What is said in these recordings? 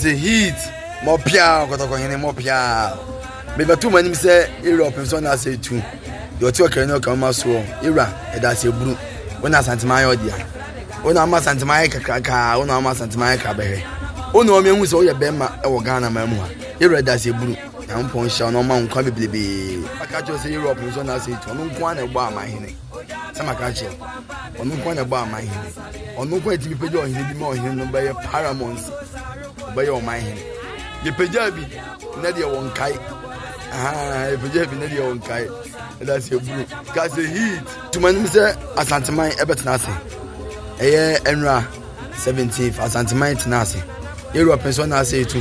Te heat mɔ piaa kɔtɔkɔ hene mɔ piaa mebɛto mo anim sɛ ewura ɔpem so na asɛ etu deɛ ɔte ɔkra ne ɔkra ma soɔ ewura ɛda asɛ buru wo na asantema ayɛ ɔdea wo na ama asantema ayɛ kakrakaa wo na ama asantema ayɛ krabɛhwɛ wo na ɔmo ehu sɛ ɔyɛ bɛrima ɛwɔ ghana maa mu ha ewura ɛda asɛ buru nyankopɔn hyɛ ɔno ɔma nkwa bebrebe aka kyerɛ sɛ ewura ɔpem so na asɛ etu ɔno nko ara na ɛbɔ ama hene sɛ maka kyerɛ ɔno nko na ɛbɔ aman hene ɔno nko ɛtumi pagya ɔhene bi ma ɔhene no bɛyɛ paramount ɔbɛyɛ ɔman hene yɛpagya bi na deɛ wɔ nkae yɛpagya bi na deɛ wɔ nkae ɛda sɛ buru ka sɛ heat tuma nim sɛ asanteman ɛbɛtena ase ɛyɛ ɛnura 17 asanteman tena ase yɛwura pɛn sɛ ɔna asɛ ɛtu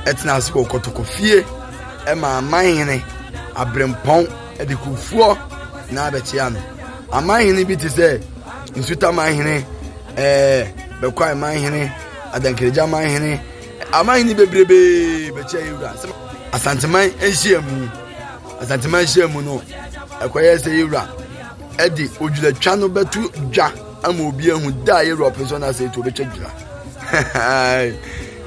ɛtena ase wɔ kɔtɔkɔ fie ɛma aman hene abrɛmpɔn de kurofoɔ na abɛkyea no. Aman hene bi te sɛ Nsutaman hene, ɛɛ Bɛkwae man hene, Adankiregya man hene, aman hene bebrebee bɛkyia Yewura. Asanteman nhyiamu, Asanteman nhyiamu no, ɛkɔyɛ sɛ Yewura ɛde odwiratwa no bɛto dwa ama obi ahu da a Yewura ɔpɛ sɛ ɔno asɛ etu ɔbɛtwa dwira.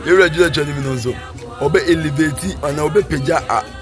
Yewura dwiratwa no mu no nso, ɔbɛ elevate anaa ɔbɛpagya a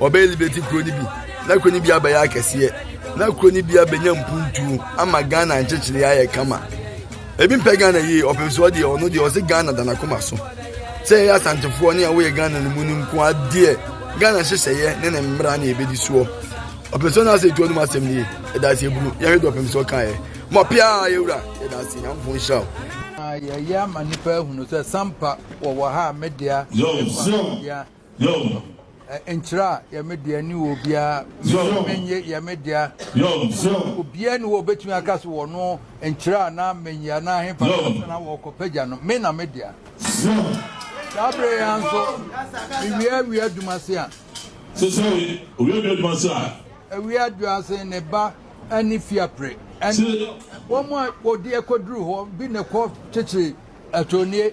Wɔbɛyɛ Liberty kuro no bi na kuro no bi abɛyɛ akɛseɛ na kuro no bi abɛnya mpuntuo ama Ghana nkyekyere ayɛ kama. Ebi mpɛ Ghana yie ɔpem so ɔdeɛ ɔno deɛ ɔse Ghana da n'akoma so. Sɛ yɛyɛ asantefoɔ ne a woyɛ Ghana no mu no nko adeɛ Ghana hyehyɛeɛ ne ne mmara ne ɛbɛdi soɔ. Ɔpem so no asɛ ɛtuo nom asɛm nie ɛda ase ɛburu yɛhwɛ deɛ ɔpem so kaeɛ. Mɔpea yɛwura yɛda ase Nyankopɔn nhyira wo. Yɛyɛ ama nnipa ahunu sɛ Sampa wɔwɔ ha a Medea ne Kwame Medea Yom. Nkyerɛ a yɛ me dea ne wɔ obiara Yom. Menye yɛ me dea Yom. Obiara ne wɔ obetumi aka so wɔ no nkyerɛ a na menye anaa ahefa na asa na wɔkɔ pagya no me na me dea Yom. Saa bere yɛ nso mewia awia adwuma se a. Sesɛ we owia awia adwuma se a. Awia adwuma se ne ba ɛne fiapre ɛne wɔn a wɔde ɛkɔduru hɔ bi na ɛkɔ kyekyere atonie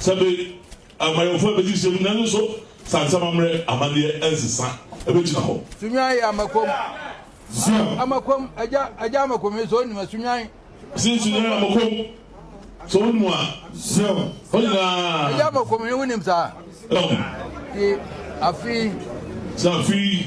Sɛ bere amanyɔfo a ebedi nhyiam nnɛ no nso saa nsɛm ammerɛ amanneɛ nsesa begyina hɔ. Sunyan yɛ Amakom. Siam. Amakom, Agya, Agya Amakom yi, sɛ wonim a, Sunyan. Sin Sunyan yɛ Amakom. Sɛ wonim a, Siam. Hɔ nyinaa. Agya Amakom yi, wonim saa? Siam. Ti, Afei. Sɛ afei.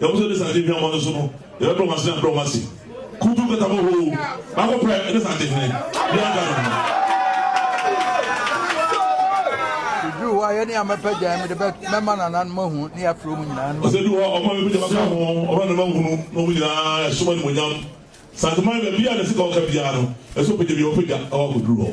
Yɛn mu sɛ ne sante hweamɔ no so no, yɛbɛbrɛ wɔn ase na abrɛ wɔn ase. Kuntu nkata mu hoo, baako pɛ ne sante hene, biara da ne ho. Meduru hɔ a, yɛne yɛn mma pɛ gyae, mede mɛma nananom ahu ne yɛafrɛ wɔn nyinaa no mu. Ɔsɛ duru hɔ a, ɔma me mogya bɛka ho, ɔma ne mma hunu na wɔn nyinaa ɛsom animuonyam. Santeman baabiara na ɛsɛ ka ɔka biara no, ɛsɛ ɔpagya biara ɔpagya na wakɔduru hɔ.